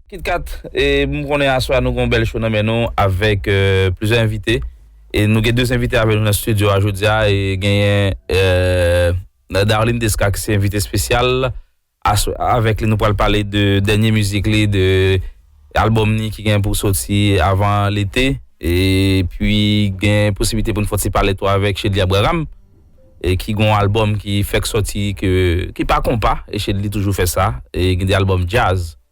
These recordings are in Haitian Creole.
Kitkat e m konnen aswè nou gon bèl show nan men nou avèk plizyè envite e nou gen 2 envite avèk nou nan studio a jodia e genyen Darline Desca ki se envite spesyal. Aswè a avèk li nou pral pale de dènye mizik li de albòm ni ki gen pou soti avan lete epi gen posiblite pou n fè yon ti pale tou avèk Shedly Abraham e ki gen yon albòm ki fèk soti ki pa konpa e Shedly toujou fè sa e gen de albòm djaz.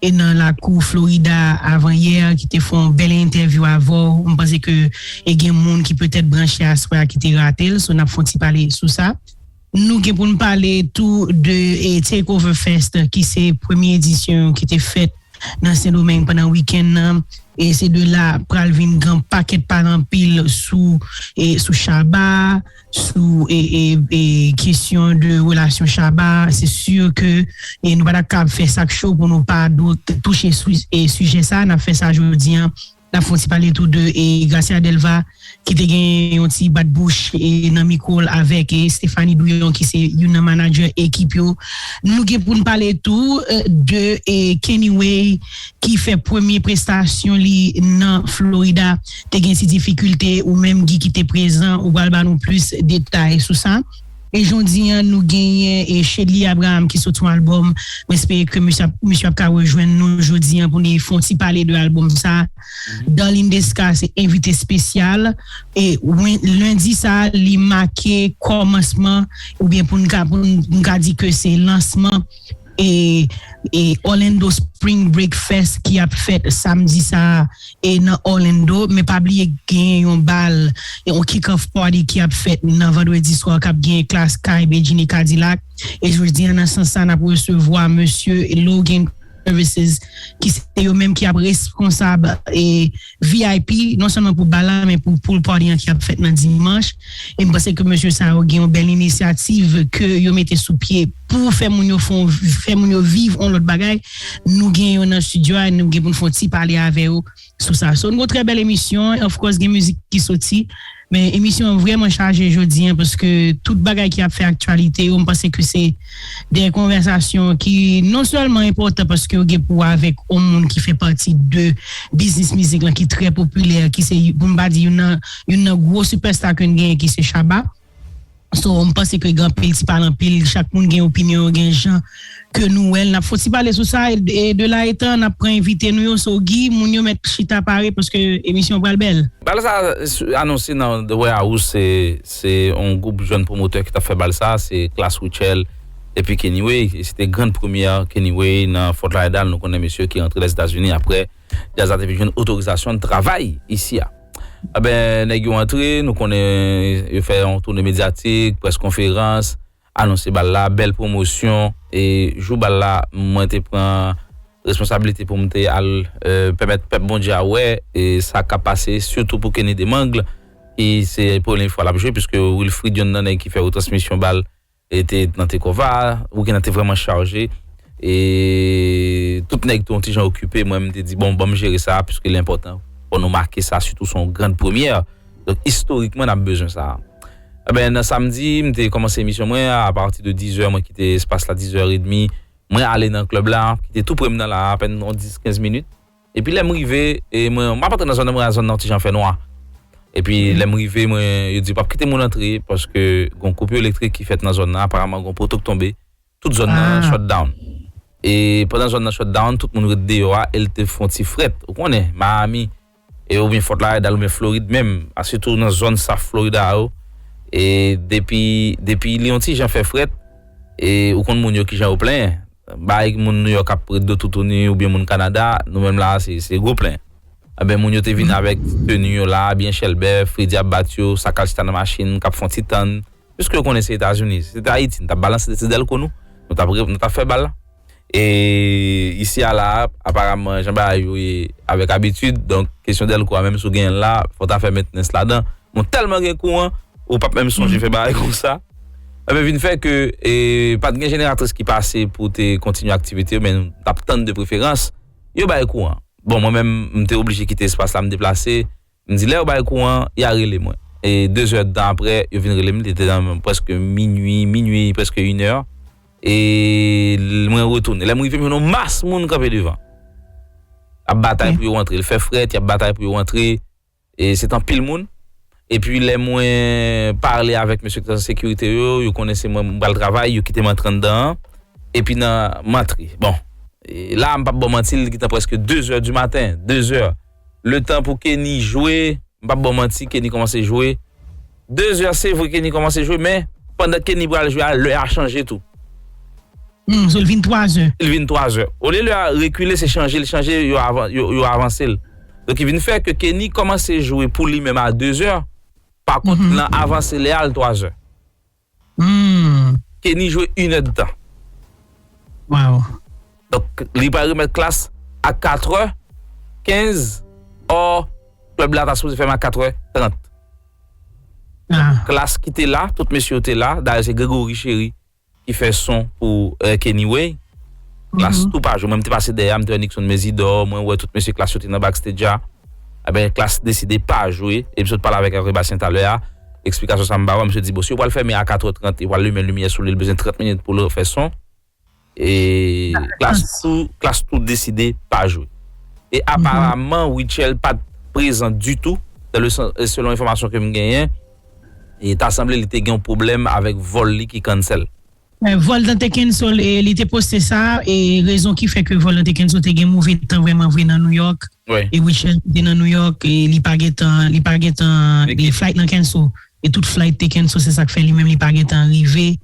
e nan lakou Florida avan yè ki te fè yon bèl entèvyou avèw m panse ke e gen moun ki petèt branche aswè a ki te ratel so nap fè yon ti pale sou sa. Nou gen pou n pale tou de Takeover Fest ki se premye edisyon yo ki te fèt nan Sendomeng pandan wikenn nan e se de la pral vin gen yon pakèt pale anpil sou sou Shabba a. sou kesyon de relasyon Shabba se sur ke nou pa ta kab fè sak cho pou nou pa touche sijè sa, nap fè sa jodi an nap fon ti pale tou de Gracia Delva ki te gen yon ti bat bouch nan mikro l avèk Stéphanie Douyon ki se youn nan manadjè ekip yo, nou gen poun pale tou de Kenny Way ki fè premye prestasyon li nan Florida. Te gen ti difikilte ou menm Guy ki te prezan ou pral ba nou plis detay sou sa. E jondi an nou genyen Shedly Abraham ki sot yon album m espere ke misye ap ka rejwenn nou jodi an pou li fon ti pale de album sa. Darline Desca se envite espesyal e lendi sa li make kòmansman oubyen pou n ka di ke se lansman e Orlando Spring Break Fest ki ap fèt samdi sa e nan Orlando men pa bliye genyen yon bal yon kick off party ki ap fèt nan vendredi swa kap genyen Klass Kay Bedjine Kadilak e jodi an nan sans sa nap resevwa mesye Logan Services ki se yo menm ki ap responsab e Vip non sèlman pou bal la men pou pool party an ki ap fèt nan dimanch e m panse ke mesye sa yo gen yon bèl inisyativ ke yo mete sou pye pou fè moun yo fon fè moun yo viv yon lòt bagay nou gen yo nan studio a nou gen pou n fon ti pale avè yo sou sa so n gon trè bèl emisyon of course gen mizik ki soti. Men emisyon an vrèman chaje jodi an paske tout bagay ki ap fè aktyalite yo m panse ke se de konvèsasyon ki non sèlman enpòtan paske yo gen pou wè avèk on moun ki fè pati de biznis mizik lan ki trè popilè ki se pou m pa di youn nan gwo sipèsta ke n genyen ki se Shabba. So m panse ke gen anpil ti pale anpil chak moun gen opinyon yo gen jan ke nou wèl nap fon ti pale sou sa e de la etan nap pran envite nou yo so Guy moun yo mèt chita pare paske emisyon an pral bèl. Bal sa anonse nan The Warehouse se yon gwoup jèn pwomotè ki tap fè bal sa se Klass Rutshelle epi Kennyway e se te grand premyè Kennyway nan Fort Lauderdale nou konnen mesye ki rantre Lèzetazini aprè Jazz la te fin jwenn otorizasyon travay isi a. Enben, nèg yo antre, nou konnen yo fè yon toune medyatik, près konferans, anonse bal la, bèl pwomosyon. E jou bal la, mwen te pran responsablite pou m te al pèmèt pèp Bondye a wè sa k ap pase, sitou pou Kenny Demangle ki se premye fwa l ap jwe piske Wilfrid yonn nan nèg ki fè retransmisyon bal E te nan Tecova, weekend nan te vreman chaje. E tout nèg tou yon ti jan okipe, mwen m te di bon banm jere sa puiske li enpòtan pou nou make sa sitou son yon grand premyè. Donk istorikman n ap bezwen sa. Enben nan samdi m te kòmanse emisyon mwen a pati de 10 zè mwen kite espas la 10 zè edmi mwen ale nan club la ki te tou pre m nan la apèn yon 10 15 minit. Epi lè m rive, e mwen, m ap antre nan zòn nan, mwen wè zòn nan yon ti jan fè nwa. Epi lè m rive, mwen, yo di pap kite moun antre paske gen yon koupi elektrik ki fèt nan zòn nan, aparaman gen yon poto k tonbe, tout zòn nan shut down. E pandan zòn nan shut down, tout moun ret deyò a, e l te fè yon ti frèt. Ou konnen, Miami, e oubyen Fort Lauderdale oubyen Florid menm, a sitou nan zòn South Florida yo, e depi, depi li yon ti jan fè frèt, e ou konn moun yo ki jan yo plenyen. bay moun New York ap ret do toutouni oubyen moun Canada nou menm la se gwo plen enben moun yo te vin avèk teni yo la byen chèlbè fredi ap bat yo sakal chita nan machin kap fon ti tann piske yo konnen se etazini si se te ayiti nou tap balanse de ti dèlko nou nou tap nou tap fè bal e isi a la aparamman jan bagay yo ye avèk abitid donk kesyon dèlko a menm si w genyen l la fò ta fè mentnens ladan Mwen tèlman gen kouran, ou pap menm sonje fè bagay konsa. Ebyen vin fè ke e pat gen jeneratris ki pase pou te kontinye aktivite yo men nou t ap tann de preferans yo bay kouran. Bon mwen menm m te oblije kite espas la m deplase, m di lè yo bay kouran ya rele mwen. E dezèdtan aprè yo vin rele m li te nan prèske minui, minui prèske inè e mwen retounen. Lè m rive m jwenn yon mas moun kanpe devan ap batay pou yo antre, l fè frèt y ap batay pou yo antre. E se t anpil moun. Epi lè mwen pale avèk mesye ki t nan sekirite yo, yo konnen se mwen, m pral travay, yo kite m antre anndan an. Epi nan, m antre. Bon, la a m p ap ba w manti, li gentan prèske dezè di maten. Dezè. Letan pou Kenny jwe, m p ap ba w manti, Kenny kòmanse jwe. 2 zè se vre Kenny kòmanse jwe men pandan Kenny pral jwe a lè a chanje tou. Humm so l vin 3 zè. L vin 3 zè. Olye lè a rekile se chanje l chanje yo avanse l. Donk ki vin fè ke Kenny kòmanse jwe pou li menm a 2 zè pa kont nan avanse lè a l 3 zè. Humm. Kenny jwe yn èd tan. Waw. Donk li pral remèt klas a 4 trè 15 or club la ta sipoze fèmen a 4 trè 30. Ah. Klas ki te la, tout mesye yo te la, dayè se Gregory Chery ki fè son pou Kenny Way. Klas tou pa jwe, mwen m te pase dèyè a, m te wè Nixon Mésidor, mwen wè tout mesye klas yo te nan backstage a. Enben klas deside pa jwe, e m sot pale avèk Hervé Bastien talè a. Eksplikasyon sa m ba ou a, misye di bon si yo pral fèmen a 4 è 30 yo pral limen limyè sou li, li bezwen 30 minit pou l refè son e Klass tou Klass tou deside pa jwe. E aparaman Rutshelle pa t prezan ditou dan le sans e selon enfòmasyon ke m genyen e ta sanble li te gen yon pwoblèm avèk vòl li ki cancel. Voltan te cancel e li te poste sa e rezon ki fè ke Voltan te cancel te gen move tan vrèman vre nan New York e Rutshelle ki te nan New York e li pa gen tan li pa gen tan e flight lan cancel e tout flight te cancel se sak fè li menm li pa gen tan rive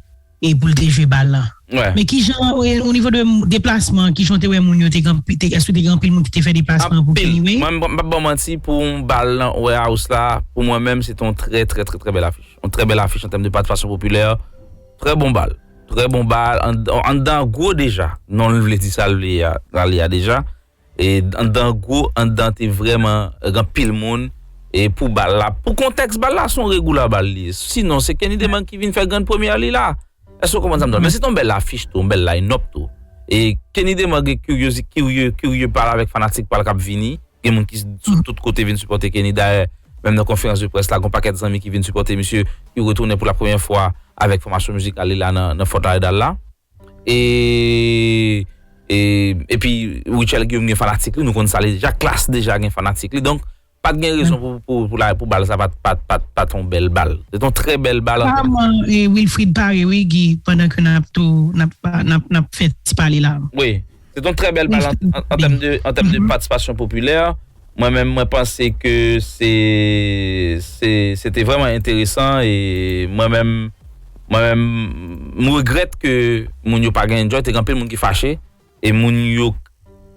e pou l te jwe bal lan. Men kijan o nivo de deplasman an kijan w te wè moun yo te gen anpil èske te gen anpil moun ki te fè deplasman pou Kenny Wayne? Anpil mwen m pap baw manti pou yon bal nan Warehouse la pou mwen menm se te yon trè trè trè bèl afich yon trè bèl afich an tèm de patisipasyon popilè Trè bon bal. Trè bon bal. Anndan an gwo deja. Non l vle di sa l vle a, sa l ye a deja. E anndan an gwo, anndan an te vrèman gen anpil moun e pou bal la. Pou kontèks bal la, se yon regoula bal li ye. Sinon, se Kenny Demang ki vin fè grand première li la. Èske ou konprann sa m di la? Men se te yon bèl afich tou, yon bèl line-up tou. E Kenny Demang gen kiryozi, kirye, kirye pale avèk fanatik pa l k ap vini. Gen moun ki sou tout kote vin sipòte Kenny. Dayè, menm nan konferans de près la, gon pakèt zanmi ki vin sipòte misye ki retounen pou la premyè fwa avèk fòmasyon mizikal li la nan Fort Lauderdale la. E, e, epi Rutshelle Guillaume gen fanatik li, nou konn sa li deja. Klass deja gen fanatik li. Donk, pat gen rezon pou, pou, pou la, pou bal sa pat, pat, pat, pat yon bèl bal. Se te yon trè bèl bal. Aparamman, e, Wilfrid pare wi Guy, pandan ke nap tou, nap, nap, nap fè ti pale la. Wi. Se te yon trè bèl bal an tèm de patisipasyon popilè. Mwen menm mwen panse ke se te vrèman enteresan e mwen menm mwen menm m regrèt ke moun yo pa gen enjoy. Te gen anpil moun ki fache e moun yo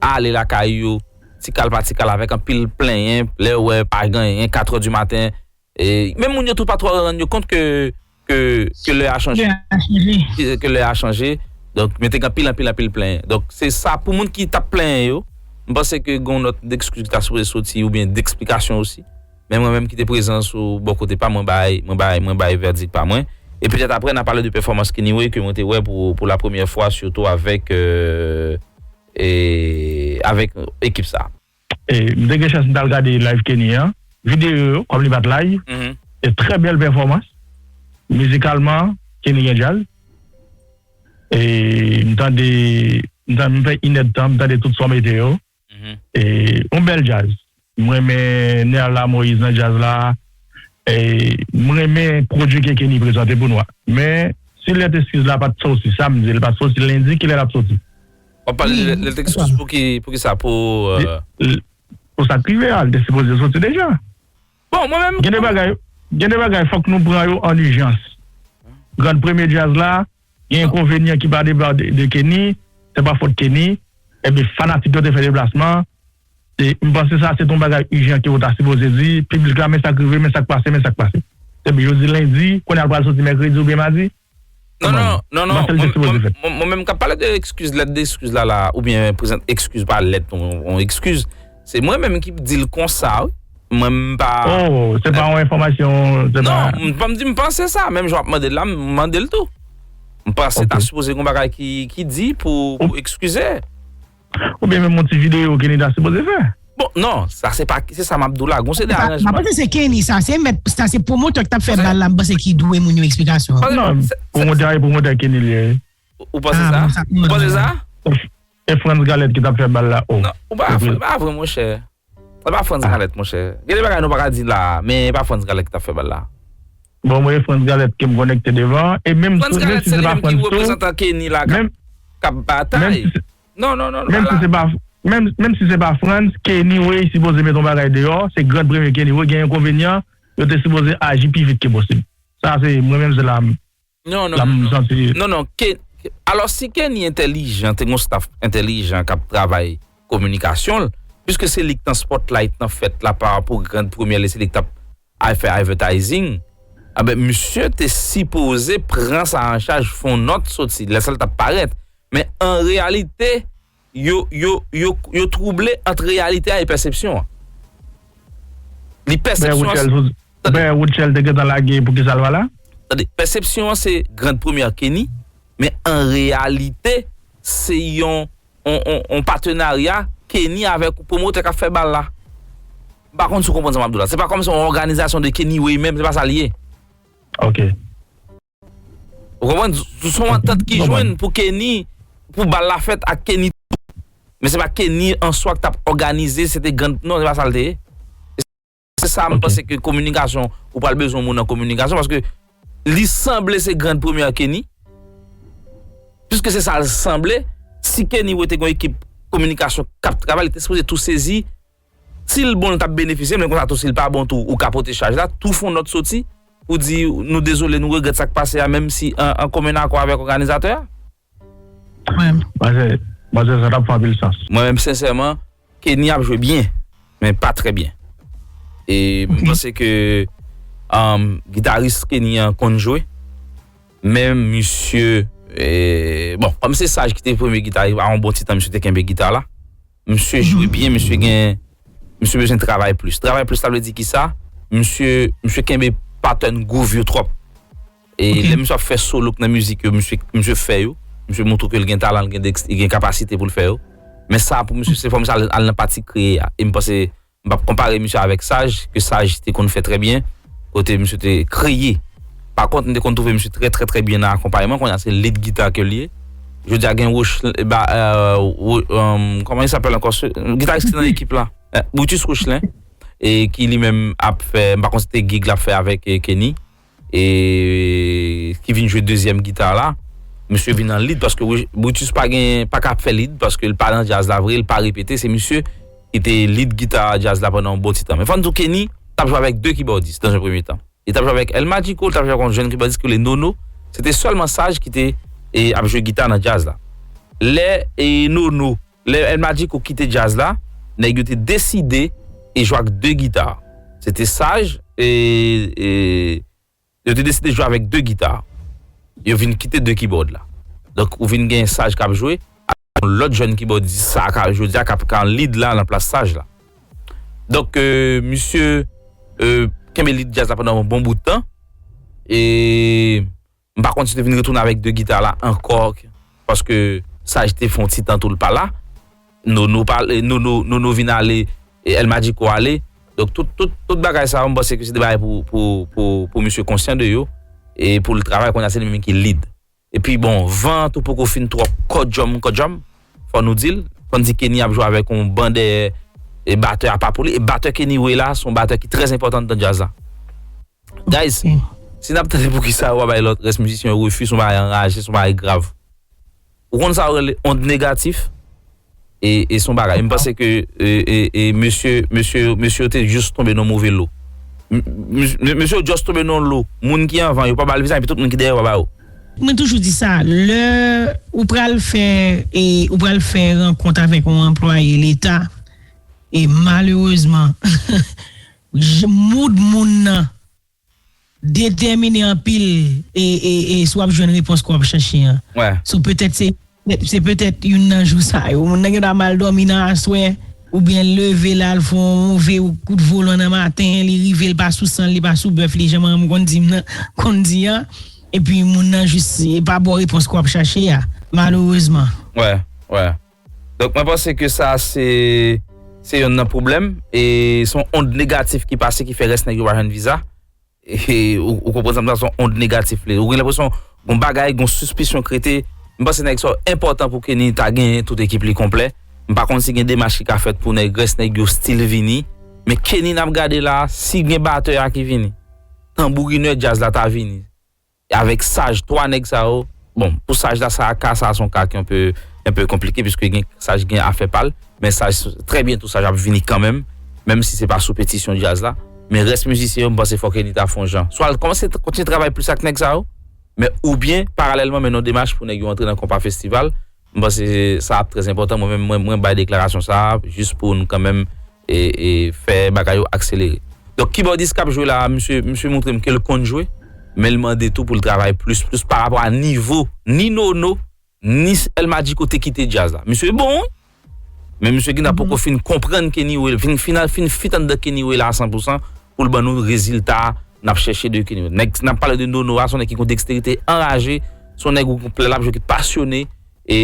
ale lakay yo ti kal pa ti kal avèk anpil plenyen lè yo wè pa gen anyen katrè di maten. Men moun yo tou pa twò rann yo kont ke lè a chanje. Ke lè a chanje. Donk men te gen anpil anpil anpil plenyen. Donk se sa pou moun ki tap plenyen yo. M panse ke gon nòt dekskiz ki ta sipoze soti oubyen deksplikasyon osi. Men mwen menm ki te prezan sou bò kote pam mwen bay mwen bay mwen bay vèdik pa mwen. E petèt aprè na pale de pèfòmans Kennywoy ke mwen te wè pou la premyè fwa sitou avèk avèk ekip sa. M te gen chans m tal gade live Kenny an, videyo yo kòm li pat live, trè bèl pèfòmans, mizikalman Kenny gen djaz, m tande m fè inèdtan m tande tout sa w mete yo, yon bèl djaz, m renmen Nerla Moïse nan djaz la, m renmen pwodui ke Kenny prezante pou nou a, men si lèt eskiz la pat soti, samdi li pat soti, lendi kilè lap soti? Wap pale de lèt Lexus poukisa pou. Pou sak rive a li te sipoze soti deja. Bon mwen menm. Gen de bagay fok nou pran yo an ijans. Grand premye djaz la gen enkonvenyan ki pa depa de Kenny se pa fot Kenny ebyen fanatik yo te fè deplasman m panse sa se t on bagay ijan ke yo ta sipoze di piblik la men sak rive men sak pase men sak pase. Ebyen yo di lendi kounya l pral soti mèkredi oubyen madi. Non non, non non, mwen menm kap pale de ekskiz, lèt de ekskiz la la, ou byen prezant ekskiz pa lèt ou ekskiz, se mwen menm ki di l konsa wi, mwen m pa... Oh, se pa yon enfòmasyon, se pa... Non, m pa m di m panse sa, menm jan w ap mande l la, m mande l tou. M panse ta sipoze gen yon bagay ki di pou ekskize. Ou byen menm yon ti video Kenny ta sipoze fè. Bon non sa se pa se sa map di w la gon seri de aranjman. Mwen panse se Kenny sa se mèt sa se pwomotè ki tap fè bal la mwen panse ki dwe moun yo eksplikasyon. Non pwomotè a e pwomotè Kenny li ye. Ou panse sa? Ou panse sa? E Frantz Galette ki tap fè bal la oh. Ou pa vre monchè. E pa Frantz Galette monchè. Gen de bagay nou paka di la a, men e pa Frantz Galette ki tap fè bal la. Bon mwen e Frantz Galette kem konekte devan e menm Frantz Galette se li menm ki reprezantan Kenny la kap kap batay non non non pa la. Menm si se pa Frantz, Kenny way sipoze met yon bagay deyò, se grand premye Kenny way gen enkonvenyan, yo te sipoze aji pi vit ke posib. Sa se mwen menm se la m. Non non non non non non ke alò si Kenny entèlijan te gon staff entèlijan kap travay kominikasyon l piske se li k nan spotlight nan fèt la pa pou grand premyè li se li k tap ay fè advertising anben misye te sipoze pran sa an chaj fon nòt soti lè sa l tap parèt men an reyalite Yo twouble ant reyalite a e pèsepsyon an. Li pèsepsyon an se. Pè Woodchell te gentan lage poukisa l pa la? Tande, pèsepsyon an se grand première Kenny, men an reyalite se yon yon patenarya Kenny avèk pwomotè k ap fè bal la. M pa konn si w konprann sa m ap di w la. Se pa kòmsi yon òganizasyon de Kenny Way menm, se pa sa l ye. Ok. Ou konprann? Se yon antant ki jwenn pou Kenny, pou bal la fèt ak Kenny tou. Men se pa Kenny an swa ki t ap òganize, se te grand, non se pa sa l te ye. Se sa m panse ke kominikasyon, ou pral bezwen moun an kominikasyon paske li sanble se grand premyè Kenny. Piske se sa l sanble, si Kenny wè te gen yon ekip kominikasyon k ap travay, li te sipoze tou sezi Sil bon li tap benefisye men konsa tou sil pa bon tou ou ka pote chaj la tou fon nòt soti pou di nou dezole nou regrèt sak pase a menm si an komen akò avèk òganizatè a. Mwen menm, manzè sa tap fè anpil sans. Mwen menm sensèman, Kenny ap jwe byen, men pa trè byen. E m panse ke gitaris Kenny an konn jwe, men misye, bon, kòm se Saj ki te premye gitaris, a yon bon ti tan misye te kenbe gita la. Misye jwe byen misye gen misye bezwen travay plis travay plis la vle di kisa misye misye kenbe pattern groove yo trop e Ok. lè misye ap fè solo k nan mizik yo misye misye fè yo misye montre ke l gen talan l gen dex l gen kapasite pou l fè yo men sa pou misye se fò misye al al nan pati kreye a e m panse M pap konpare misye avèk Saj, ke Saj te konn fè trè byen, kote misye te kreye. Pa kont, m te konn twouve misye trè trè trè byen nan akonpayman, kounye a se lid gita ke l ye. Jodi a gen Rochlen, ba, eeuu, kòman il sapèl ankò se, gitaris ki nan ekip la? Brutus Rochlen, e ki li menm ap fè, m pa kont se te gig l ap fè avèk Kenny. e ki vin jwe dezyèm gita la misye vin an lead paske Brutus pa gen pa ka fè lead paske l pa nan jazz la vre l pa repete se misye ki te lead gita jazz la pandan yon bon ti tan men fò n di w Kenny t ap jwe avèk 2 kibòdis nan yon premye tan li t ap jwe avèk El Magico l t ap jwe avèk yon jèn kibòdis ki rele Nono se te sèlman Saj ki te ap jwe gita nan jazz la lè Nono Lè El Magico kite djaz la, nèg yo te deside e jwe ak 2 gita. Se te saj e yo te deside jwe avèk 2 gita. Yo vin kite 2 kibòd la. Donk ou vin gen saj k ap jwe ak yon lòt jèn kibòdis sa ka jodi a k ap kan lead la nan plas saj la. Donk misye kenbe lead djaz la pandan yon bon bout tan e M pa konn si li vin retounen avèk 2 gita la ankò paske Saj te fè yon ti tan tou l pa la. Nono pa ale, Nono, Nono vin ale, El Magico ale. Donk tout, tout, tout bagay sa yo m panse ke se de bagay pou, pou, pou, pou misye konsyan de yo e pou l travay. Kounye a se li menm ki lead. Epi bon, van an tou poko fin twò kòdjòm kòdjòm. Fò nou di l, fò n di Kenny ap jwe avèk yon ban dèyè e batè a pa pou li. E batè Kenny voye la se yon batè ki trè enpòtan anndan djaz la. Guys si nap tande poukisa yo pa bay lòt rès mizisyen yo refi son bagay anraje son bagay grav ou konn sa yo rele ond negatif e son bagay m panse ke mesye mesye mesye yo te just tonbe nan move lo mesye yo just tonbe nan lo moun ki anvan yo pa bal vizaj epi tout moun ki dèyè yo pa ba yo. Mwen toujou di sa lè ou pral fè e ou pral fè rankont avèk yon anplwaye leta e malerezman J mood moun nan detèmine anpil e si wap jwenn repons ke wap chache an. So petèt se petèt youn nan jou sa yo. Moun nan gen dwa mal dòmi nan aswè oubyen l leve la l fon move kout volan nan maten li rive l pa sou san l li pa sou bèf li jan manman m konn di m nan konn di an epi moun nan jis e pa ba w repons ke wap chache a malerezman. Donk mwen panse ke sa se se yonn nan pwoblèm e son ond negatif ki pase ki fè rès nèg yo pa jwenn viza. E ou, ou konprann sa m sa son ond negatif li. Ou gen l'impression gon bagay, gon suspisyon krete. M panse nèg sa yo enpòtan pou Kenny ta genyen tout ekip li konplè. M pa konn si gen demach ki ka fèt pou nèg rès nèg yo still vini. Men Kenny n'ap gade la a, si gen batè a ki vini, tanbourinè djaz la ta vini. Avèk saj 3 nèg sa yo, bon pou saj la sa a ka sa a son ka ki anpe enpe konplike piske gen saj gen afè pal men saj trè byento saj ap vini kanmenm menm si se pa sou petisyon djaz la men rès mizisyen yo m panse fòk Eni ta fon jan swa l kòmanse kontinye travay plis ak nèg sa yo men oubyen paralèlman mennen yon demach pou nèg yo antre nan konpa festival M panse sa ap trè enpòtan mwen menm mwen bay deklarasyon sa a jis pou n kanmenm fè bagay yo akselere. Donk kibòdis k ap jwe la a misye misye montre m ke l konn jwe men l mande tou pou l travay plis plis parapò a nivo ni Nono ni El Magico te kite djaz la. Misye bon wi men misye gen tan poko fin konprann Kenny Wayla vin fin al fin fit anndan Kenny Wayla a san pou san pou l ban nou rezilta n ap chèche de Kenny West. Nèg n ap pale de Nono a, se yon nèg ki gen yon deksterite anraje, se yon nèg ou gen pou lè l ap jwe ki pasyone, e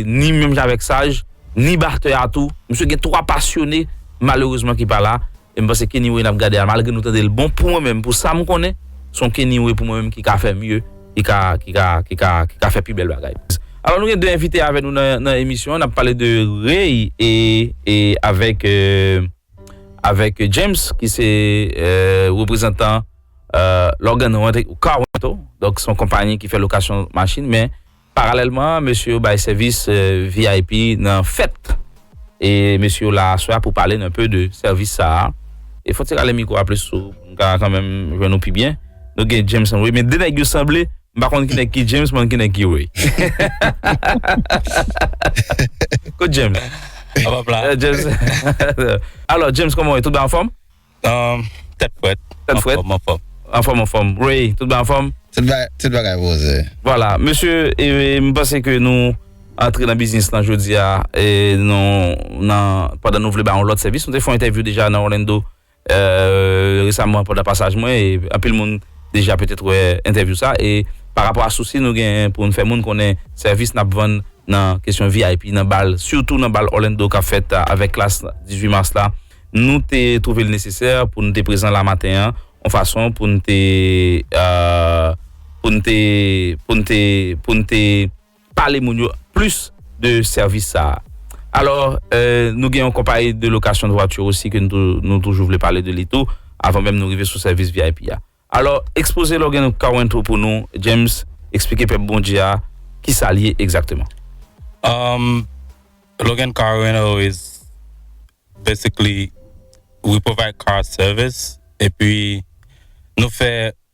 ni menm jan avèk Saj, ni batè a tou, misye gen 3 pasyone malerezman ki pa la, e m panse Kenny West n ap gade a malgre nou tande l bon, pou mwen menm, pou sa m konnen, se yon Kenny West pou mwen menm ki ka fè mye, ki ka, ki ka, ki ka, ki ka fè pi bèl bagay. Alò nou gen 2 envite avè nou nan emisyon an, n ap pale de Rey e avèk. avèk James ki se reprezantan Logan Carwento, donk son konpanyi ki fè lokasyon machin men paralèlman mesye yo bay sèvis vip nan fèt e mesye yo la aswè a pou pale n enpe de sèvis sa a e fon ti rale mikwo a plis sou m ka kanmenm jwenn nou pi byen nou gen James anwe men de nèg yo sanble M pa konn ki nèg ki James, m konn ki nèg ki Ray. Kot James? An pap la. Eh, James. Alors, James, koman wè? Tout ba an fòm? Um, tèt fwèt. Tèt fwèt. An fòm. An fòm, an fòm. Ray, tout ba an fòm? Tout ba, tout bagay voze. Voilà, mesye, e, m panse ke nou antre nan biznis lan jodi a, e, nou, nan, pandan nou vle ba yon lòt sèvis. Nou te fè yon entèvyou deja nan Orlando, Resaman pandan pasaj mwen e anpil moun deja petèt wè entèvyou sa e pa rapò a sousi nou genyen pou n fè moun konnen sèvis n ap vann nan kesyon vip nan bal sitou nan bal Orlando k ap fèt avèk klas 18 mas la nou te twouve l nesesè pou nou te prezan la maten an yon fason pou n te pou n te pou n te pou n te pale moun yo plis de sèvis sa a. Alò, nou gen yon konpayi de location de voiture osi ke nou toujou vle pale de li tou, avan menm nou rive sou sèvis vip a. Alò, ekspoze Logan Car Rental pou nou, James, eksplike pèp Bondye a ki sa l ye egzakteman. Umm Logan Car Rental is basically we provide car service epi nou fè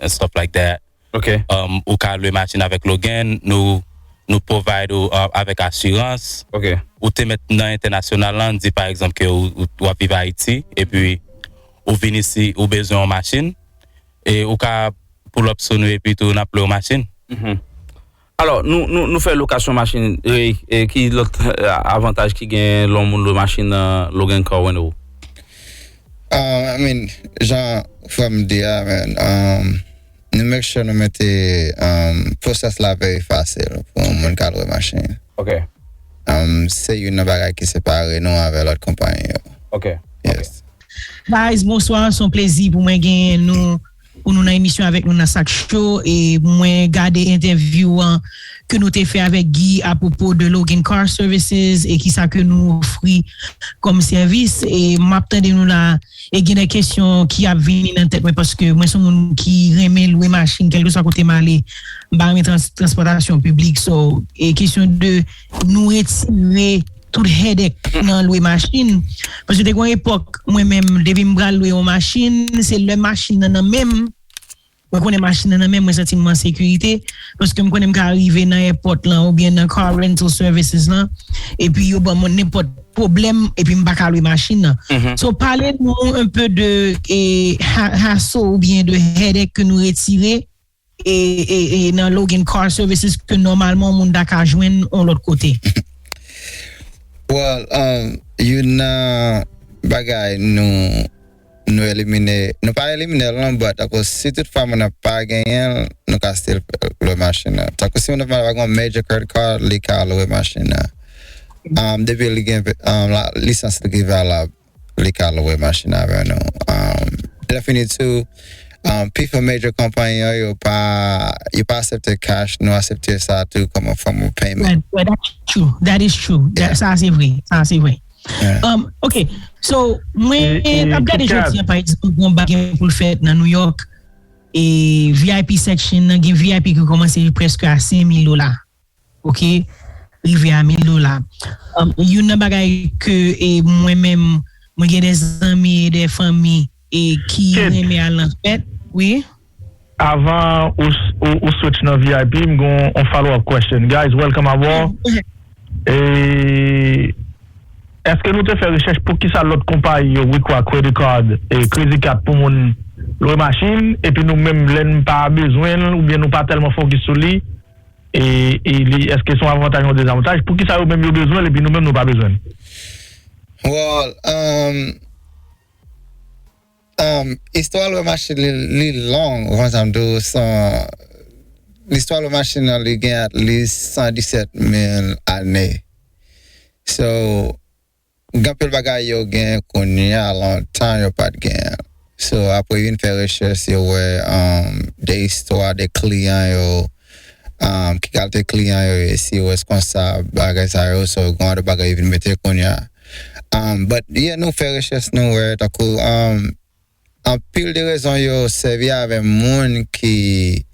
and stuff like that ou ka lwe machin avèk Logan nou provide ou avèk asirans ou te mèt nan entènasyonal la an di pa egzanp ke ou ap viv Ayiti epi ou vin isi ou bezwen yon machin e ou ka pull up sou nou epi tou n ap lwe w machin. Alò, nou fè lokasyon machin, e ki lòt avantaj ki genyen lè yon moun lwe machin nan Logan Car Rental? I mean, jan frè m di a man, nou make sure nou mete process la very fasil pou yon moun ka lwe machin. Ok. Se youn nan bagay ki separe nou avè lòt konpayi yo. Ok. Yes. Guys bonswa son plezi pou mwen genyen nou. pou nou nan emisyon avèk nou nan sak cho e mwen gade entèvyou an ke nou te fè avèk Guy a pwopo de Logan Car Services e kisa ke nou ofri kòm sèvis e map tande nou la e gen de kesyon ki ap vini nan tèt mwen paske mwen son moun ki renmen lwe machin kèlkeswa kote m ale m pa renmen transpòtasyon piblik so e kesyon de nou retire Tout headache nan lwe machin. Paske te gon epòk mwen menm depi m pral lwe yon machin, se lè machin nan nan menm, mwen konnen machin nan nan menm mwen santi m an sekirite, paske m konnen m ka rive nan èpòt lan oubyen nan car rental services lan epi yo ban mwen nenpòt pwoblèm epi m pa ka lwe machin nan. So pale nou un peu de hassle oubyen de headache ke nou retire. e nan Logan Car Services ke nòmalman moun ta ka jwenn yon lòt kote? Well, youn nan bagay nou nou elimine, nou pa elimine l non, but tankou si tout fwa moun nan pa genyen l, nou ka still lwe machin nan. Tankou si moun nan pa gen yon major credit card, li ka lwe machin nan. Depi li gen lisans li ki valab. li ka lwe machin avè nou lèfini tou pifò major konpayi yo yo pa asepte cash nou asepte sa tou kòm yon fòm of payment that is true sa a se vre sa a se vre ok so mwen ap gade jodi an pa egzanp gen yon bagay ki pou l fèt nan New York vip section nan gen vip ki kòmanse preske a 5000 dola Ok rive a 1000 dola. Youn nan bagay ke mwen menm mwen gen de zanmi e de fanmi e ki renmen al nan fèt wi. Avan ou switch nan vip m gen yon follow up question guys welcome aboard Eske nou te fè rechèch poukisa lòt konpayi yo require credit card e kredi kat pou moun lwe machin epi nou menm lè n pa bezwen l oubyen nou pa tèlman fokis sou li e li eske son avantaj ou dezavantaj poukisa yo menm yo bezwenl epi nou menm nou pa bezwenl. Well um um istwa lwe machin li long ou konn sam diw son listwa lwe machin an li gen at least 117 mil ane so Gen anpil bagay yo gen kounya lontan yo pat genyen so apre vin fè rechèch yo wè de istwa de kliyan yo ki kalte kliyan yo ye si yo reskonsab bagay sa yo so gen anpil bagay yo vin mete kounya but yeah nou fè rechèch nou wè tankou Anpil de rezon yo sèvi avè moun ki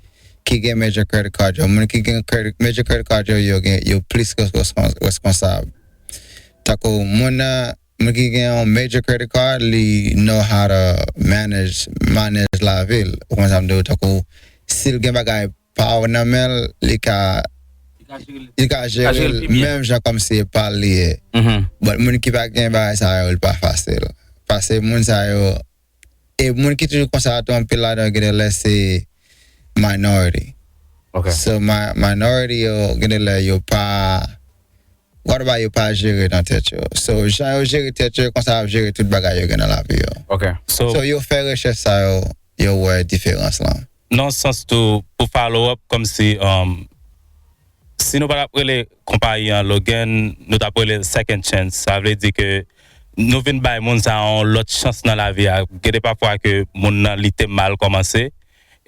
ki gen major credit card yo. Moun ki gen major credit card yo yo gen yo plis reskonsab. Tankou moun nan moun ki gen yon major credit card li know how to manage manèj lavi l ou konprann sa m di w tankou si l gen bagay Paw nan menl li ka li ka jerel menm jan kòm se pal li ye but moun ki pa gen bagay sa yo li pa fasil pase moun sa yo e moun ki toujou konsa tou anpil ladan yo gen de lè se minority so minority yo gen de lè yo pa Whataboutt yo pa jere nan tèt yo so jan yo jere tèt yo e konsa yap jere tout bagay yo gen nan lavi yo ok so yo fè rechèch sa yo yo wè diferans lan. Nan sans tou pou follow up kòmsi umm si nou pa tap rele konpayi an Logan nou tap rele l second chance sa vle di ke nou vin bay moun sa yon lòt chans nan lavi a gede pafwa ke moun nan li te mal kòmanse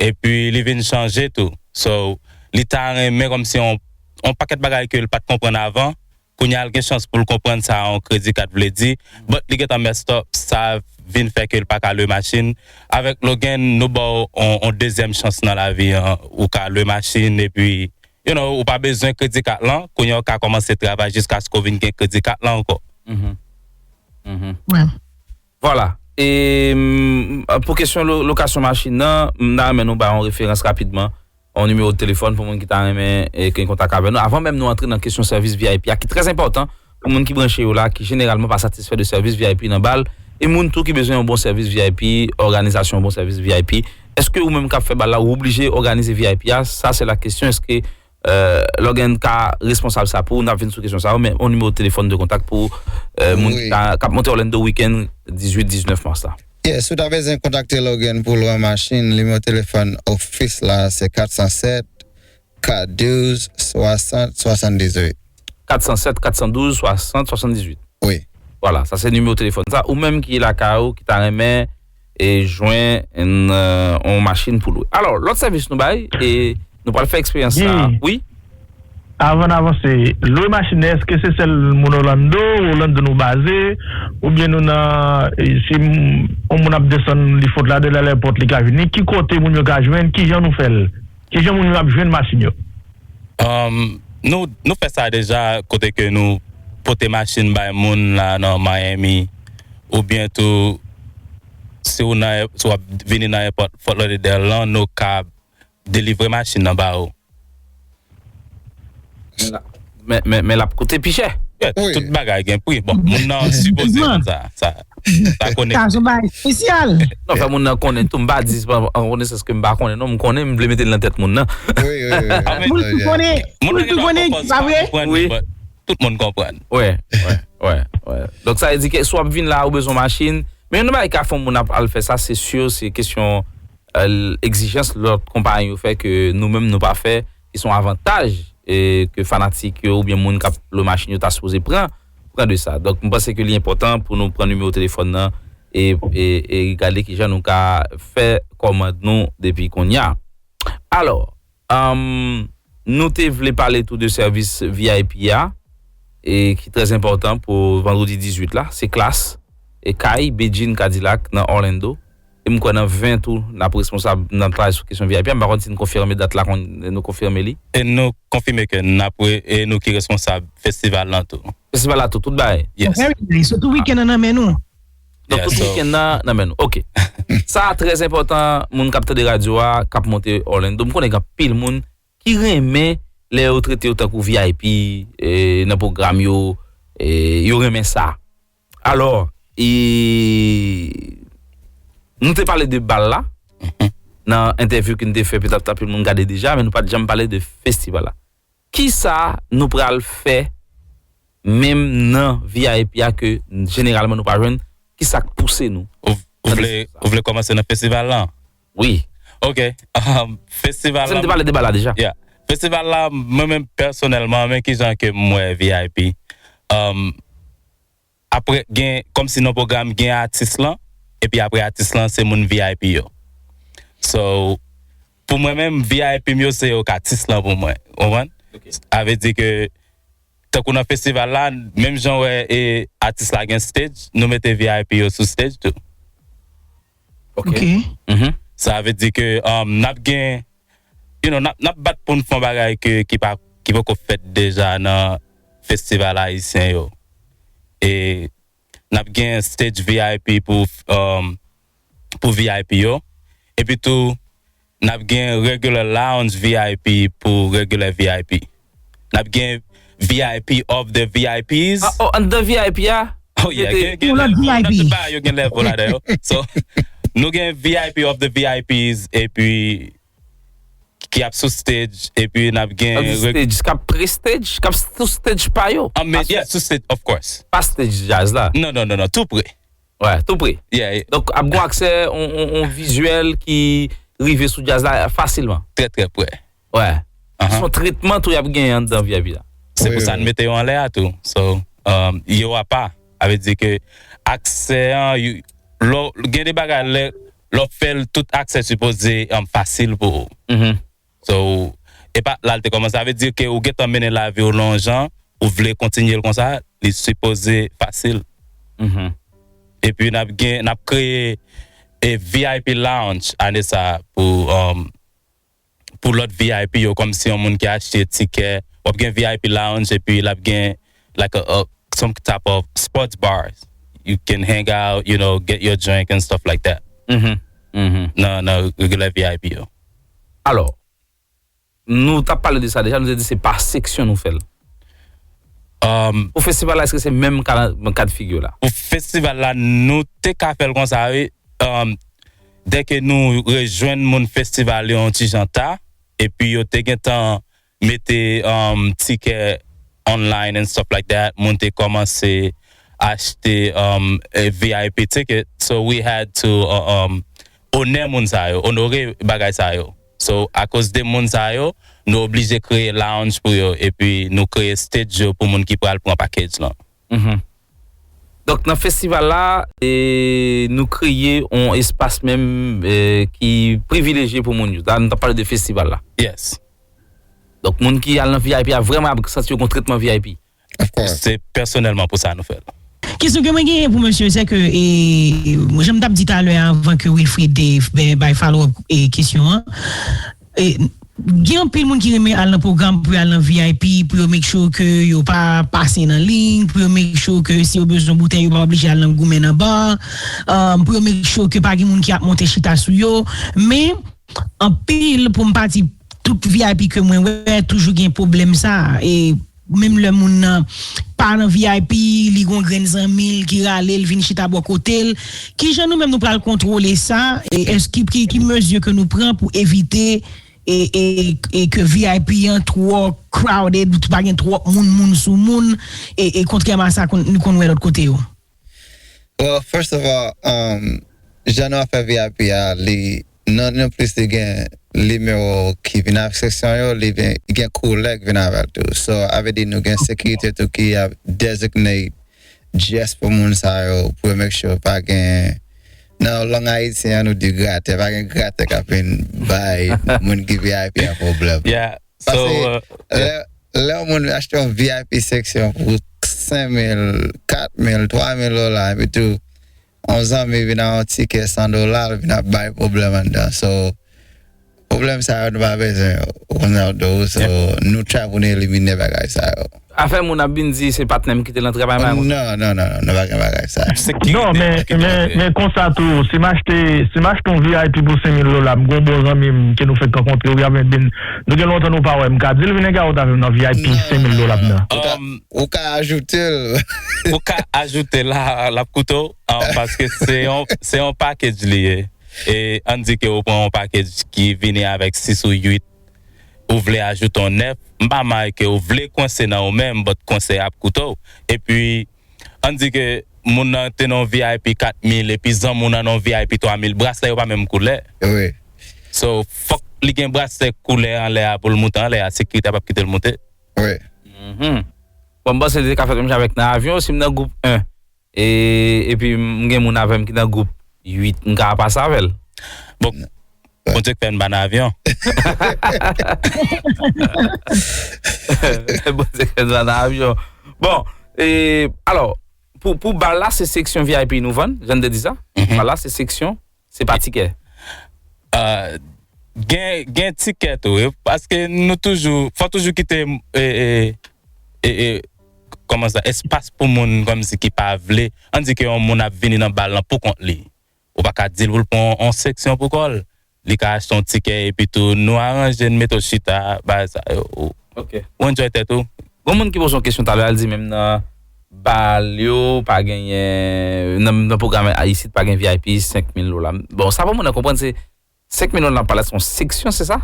epi li vin chanje tou so li ta renmen kòmsi yon yon pakèt bagay ke l pat konprann avan kounye a l gen chans pou l konprann sa yon kredi kat vle di but li gentan messed up sa vin fè ke l pa ka lwe machin avèk Logan nou ba w yon dezyèm chans nan lavi an ou ka lwe machin epi you know ou pa bezwen kredi kat lan kounye a ou ka kòmanse travay jiskaske w vin gen kredi kat lan ankò. Vwala. E pou kesyon lokasyon machin nan, m ta renmen nou bay yon referans rapidman, yon nimewo telefòn pou moun ki ta renmen gen kontak avè nou. Avan menm nou antre nan kesyon sèvis vip a ki trè enpòtan pou moun ki branche yo la ki jeneralman pa satisfè de sèvis vip nan bal e moun tou ki bezwen yon bon sèvis vip, òganizasyon yon bon sèvis vip. Èske ou menm k ap fè bal la ou oblije òganize vip a? Sa se la kesyon, èske. Lè w gen ka responsab sa pou ou, n ap vin sou kesyon sa yo, men yon nimewo telefòn de kontak pou moun ki ap monte Orlando weekend 18, 19 mas la. Yes, ou ta bezwen kontakte Logan pou lwe machin, nimewo telefòn ofis la se 407 412 60 78. 407 412 60 78. Wi. Vwala, sa se nimewo telefòn sa. Ou menm ki lakay ou, ki ta renmen. e jwen n on machin pou lwe. Alò, lòt sèvis nou bay e nou pral fè eksperyans sa a. Wi? Avan n avanse, lwe machin nan èske se sèl moun Orlando, Orlando nou baze, oubyen nou nan si on moun ap desann li fot la de l al èpòt li ka vini, ki kote moun yo ka jwenn, kijan nou fè l? Kijan moun yo ap jwenn machin yo? Humm nou fè sa deja kote ke nou pote machin bay moun la nan Miami oubyen tou si ou nan si wap vini nan èpòt Fort Lauderdale lan nou kab delivre machin nan ba ou. Men lap koute pi chè. Tout bagay gen pri. Bon moun nan sipoze konn sa. Sa konnen. Sa son bagay spesyal. Non fè moun nan konnen tou. M pa di se pa an konesans ke m pa konnen non. M konnen m vle mete l nan tèt moun nan. Moun ki konnen. Moun ki konnen ki pa vre. Wi. Tout moun konprann. Wè. Wè. Wè. Wè. Donk sa vle di ke si w ap vin la ou bezwen machin. Men yon nan bagay ki ka fè yon moun ap al fè sa se sur se kesyon egzijans lòt konpayi yo fè ke nou menm nou pa fè. ki son avantaj ke fanatik yo oubyen moun kap lwe machin yo ta sipoze pran pran de sa donk m panse ke li enpòtan pou nou pran nimewo telefòn nan e e gade kijan nou ka fè kòmand nou depi konnya alò anm nou te vle pale tou de sèvis vip a e ki trè enpòtan pou vandredi 18 la se klass e kay bedjine kadilak nan orlando. e m kwè nan 20 tou n ap responsab, n ap travay sou kesyon vip an, m pa konn si n konfime dat la, nou konfime li? Nou konfime ke n ap, e nou ki responsab festival lan tou. Festival la tou, tout bagay? Yes. Very nice, so tout weekend an nan men nou? Donk tout weekend nan nan men nou, ok. Sa a trè enpòtan moun k ap tande radyo a, k ap monte Orlando, m konnen gen anpil moun ki renmen lè yo trete yo tankou vip nan pwogram yo, yo renmen sa. Alò, e nou te pale de bal la nan entèvyou ke nou te fè petèt anpil moun gade deja men nou pa t janm pale de festival la. Kisa nou pral fè menm nan vip a ke jeneralman nou pa jwenn? Kisa k pouse nou? Ou vle kòmanse nan festival lan? Wi ok festival la. Se m te pale deba la deja. Yeah festival la mwen menm pèsonèlman men kijan ke m wè vip aprè gen kòmsi nan pwogram gen atis lan epi aprè atis lan se moun vip yo so pou mwen menm vip m yo se yo k atis lan pou mwen ou konprann sa vle di ke tankou nan festival la menm jan wè atis la gen stage nou mete vip yo sou stage tou. Ok uhmm sa vle di ke nap gen you know nap bat poun fon bagay ke ki pa ki poko fèt deja nan festival ayisyen yo e nap gen stage vip pou uhmm pou vip yo epi tou Nap gen Regular Lounge vip pou Regular vip. Nap gen vip of the vips. Oh an dan vip a nou mete. Ou nan vip. Nan tout bagay yo gen level ladan yo. So nou gen vip of the vips epi ki ap sou stage epi nap gen. Ap sou stage kap pre stage kap sou stage pa yo. An men yeah sou stage of course. Pa stage jazz la. Non non non tou pre. Wè, tou pre. Yeah. Donk ap gon aksè on vizyèl ki rive sou djaz la fasilman. Trè trè prè. Wè. Son tretman tou yap genyen anndan vip la. Se pou sa n mete yo anlè a tou. So, yo apa. Sa vle di ke aksè an lè w gen de bagay lè w fè l tout aksè sipoze fasil pou ou. So epa la l te kòmanse sa vle di ke ou gentan mennen lavi w nan yon jan ou vle kontinye l konsa li sipoze fasil epi nap gen nap kreye e vip lounge ane sa pou pou lòt vip yo kòmsi yon moun ki achte tikè wap gen vip lounge epi lap gen like a a some type of sports bars you can hang out you know get your drink and stuff like that nan regular vip yo. Alò, nou tap pale de sa deja, nou te di se pa seksyon nou fèl. Pou festival la eske se menm kad figure la? Pou festival la nou te ka fèl konsa wi, dèke nou rejwenn moun festival yo yon ti jan ta, epi yo te gentan mete tikè online and stuff like that moun te kòmanse achte vip ticket so we had to onè moun sa yo onore bagay sa yo so akoz de moun sa yo nou oblije kreye lounge pou yo epi nou kreye stage yo pou moun ki pral pran package lan. Donk nan festival la nou kreye yon espas menm ki privilejye pou moun yo. La nou ta pale de festival la. Yes. Donk moun ki al nan vip a vreman ap santi yo gon tretman vip. Of course. Se pèsonèlman pou sa nou fè l. Kesyon ke mwen genyen pou mesye se ke jan m tap di talè avan ke Wilfrid te bay follow up kesyon an. Gen anpil moun ki renmen al nan pwogram pou yo al nan vip, pou yo make sure ke yo pa pase nan liy, pou yo make sure ke si yo bezwen boutèy yo pa oblije al nan goumen nan bar, pou yo make sure ke pa gen moun ki ap monte chita sou yo. Men, anpil, pou m pa di tout vip ke mwen wè, toujou gen pwoblèm sa a. Menm lè moun nan pa nan vip, li gon grenn zanmi l ki rale l vin chita bò kote l. Kijan nou menm nou pral kontwole sa? Èske ki mezi ke nou pran pou evite ke vip an twò crowded, pa gen twòp moun moun sou moun e kontrèman a sa nou konn wè lòt kote yo? Well first of all um jan nou ap fè vip a li nan yon plis li gen nimewo ki vin avk seksyon yo li gen koulè ki vin avèl tou so a vle di nou gen sekirite tou ki ap designate just pou moun sa yo pou yo make sure pa gen nan lang ayisyen an nou di gratè pa gen gratè kap vin bay moun ki vip a pwoblèm. Sa se lè yon moun vin achte yon vip seksyon pou 5 mil, 4 mil, 3 mil dola epi tou yon zanmi vin ak yon tikè 100 dola l vin ap bay pwoblèm anndan so pwoblèm sa yo nou pa bezwen yo ou konprann sa m di w so nou tray pou nou elimine bagay sa yo. Afè moun ap vin di se patnèm kite lan travay bagay konsa. Non non non non pa gen bagay sa. Non men men konsa tou si m achte si m achte yon vip pou 5000 dola m gen yon bon zanmi m ke nou fenk rankontre wi avèk vin nou gen lontan nou pa wè m ka di l vin engarot avè m nan vip 5000 dola m nan. Ou ka ajoute l. Ou ka ajoute l la l ap koute w paske se yon se yon package li ye e an n di ke ou pran yon package ki vini avèk 6 ou 8. ou vle ajoute yon 9 m pa may ke ou vle kwense nan ou menm but kwense a ap koute w epi ann di ke moun nan te nan yon vip 4 mil epi zanmi w nan nan yon vip 3 mil braslè yo pa menm koulè so fòk li gen braslè koulè anlè a pou l moute anlè a sekirite a pap kite l moute bon m panse li te ka fèt menm jan avèk nan avyon si m nan gwoup 1. E epi m gen moun avè m ki nan gwoup 8, m ka pase avè l? Bon, Bondye k fè n ba n avyon. Bondye k fè n ba n avyon. Bon, e alò, pou pou bal la se seksyon vip nou vann, jan n te di sa? Bal la se seksyon Se pa tikè. Gen gen tikè tou wi paske nou toujou fò toujou kite kòman sa espas pou moun kòmsi ki pa vle an di ke yon moun ap vini nan bal lan pou kont li ou pa ka di l pou l pran yon seksyon pou kò l li ka achte yon tikè epi tou nou aranje n mete w chita bagay sa yo ou enjoy tèt ou. Gon moun ki poze yon kesyon talè al di menm nan Bal yo pa genyen nan nan pwogram isit pa gen vip 5 mil dola bon sa pou moun nan konprann se 5 mil dola nan palas son seksyon se sa?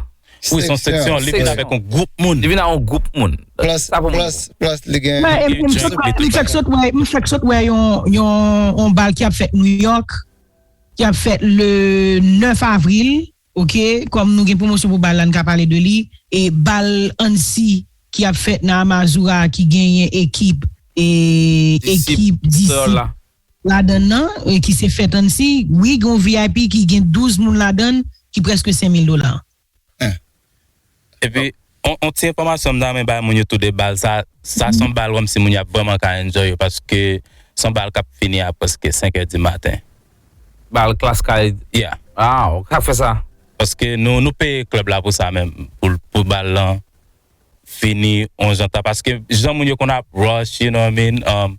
Wi son seksyon li vin avèk yon gwoup moun. Li vin a yon gwoup moun plus plus plus li gen M fèk sot wè m fèk sot wè yon yon bal ki ap fèt New York ki ap fèt le 9 avril. Ok kòm nou gen pwomosyon pou bal la n ka pale de li e bal Annecy ki ap fèt nan Amazura a ki genyen ekip e ekip Disip ladann nan e ki se fèt Annecy wi gen yon vip ki gen 12 moun ladann ki prèske 5000 dola. Epi on ti enfòmasyon m ta renmen bay moun yo tou 2 bal sa sa son bal wèm si moun yo ap vrèman ka enjoy yo paske son bal kap fini a prèske 5 è di maten. Bal klass kay Yeah. Ah ou ka fè sa. Paske nou nou peye club la pou sa men pou pou bal lan fini on jan ta paske jan moun yo konn ap rush you know what I mean um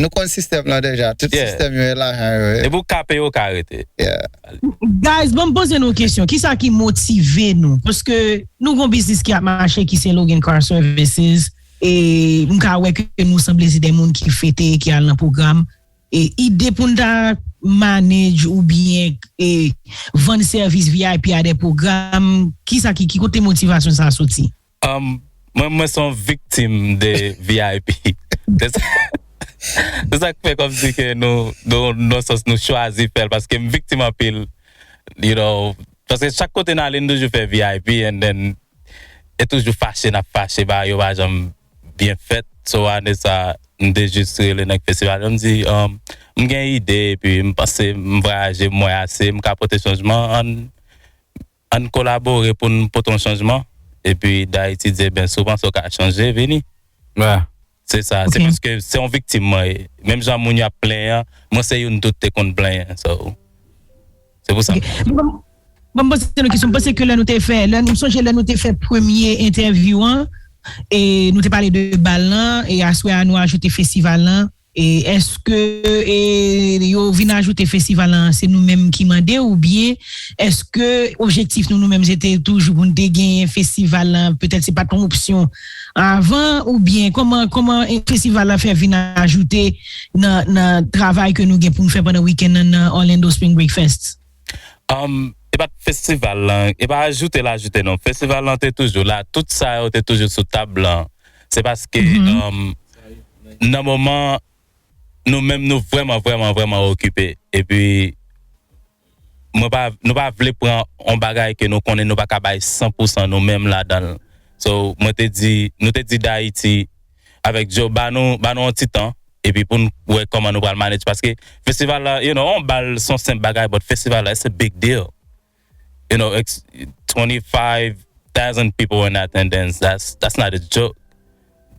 Nou konn sistèm lan deja tout sistèm yo e lajan yo ye. Depi ou kape yo ou ka rete. Guys banm poze nou yon kesyon kisa ki motive nou paske nou gon biznis ki ap mache ki se Logan car services e m ka wè ke nou sanble se de moun ki fete ki al nan pwogram e ide pou n ta manage ou byen e vann sèvis vip a de pwogram kisa ki ki kote motivasyon sa soti. Mwen mwen son viktim de vip se sak fè kòm si ke nou nan sans nou chwazi fèl paske m viktim anpil you know paske chak kote n ale n toujou fè vip and then e toujou fache nap fache bagay yo pa janm byen fèt so ane sa m te jis rele nèg festival yo m di m gen ide epi m panse m vwayaje m wè ase m ka pote chanjman ann Ann kolabore pou n pote yon chanjman epi Dayiti di ebyen si w panse w ka chanje vini. Se sa, se paske se yon viktim mwen ye. Menm jan moun yo ap plenyen an, mwen se youn tou te konn plenyen. So, se pou sa m la. Ban m poze nou kesyon. M panse ke lè nou te fè, lè nou, m sonje lè nou te fè premye entèvyou an, e nou te pale de bal lan, e aswè a nou ajoute festival lan. Eske yo vin ajoute festival lan se nou menm ki mande ou byen eske objektif nou nou menm se te toujou pou nou te genyen festival lan petèt se pa t yon opsyon avan ou byen kòman kòman festival lan fè vin ajoute nan nan travay ke nou gen pou nou fè pandan wikenn nan nan Orlando Spring Break Fest? Humm e pat festival lan e pa ajoute l ajoute non festival lan te toujou la tout sa yo te toujou sou tab lan se paske humm nan moman nou menm nou vrèman vrèman vrèman okipe epi mwen pa nou pa vle pran yon bagay ke nou konnen nou pa ka bay san pou san nou menm ladan l so mwen te di nou te di dayiti avèk Joe ba nou ba nou yon ti tan epi poun wè kòman nou pral manage paske festival la you know yon bal son senp bagay but festival la it's a big deal you know it's 25 thousand people in attendance that's that's not a joke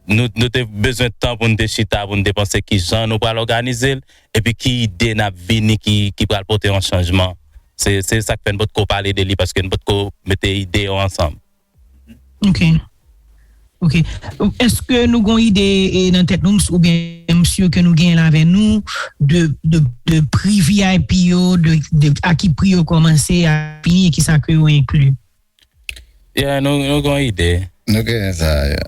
nou nou te bezwen tan poun te chita poun te panse kijan nou pral òganizel epi ki ide nap vini ki ki pral pote yon chanjman se se sak fè nou potko pale de li paske nou potko mete ide yo ansanm. Ok ok eske nou gon ide nan tèt nou ou byen msye ke nou genyen avè nou de pri vip yo de a ki pri yo komanse a fini ki sa ke yo enkli. Ya nou gon ide. Nou genyen sa ya.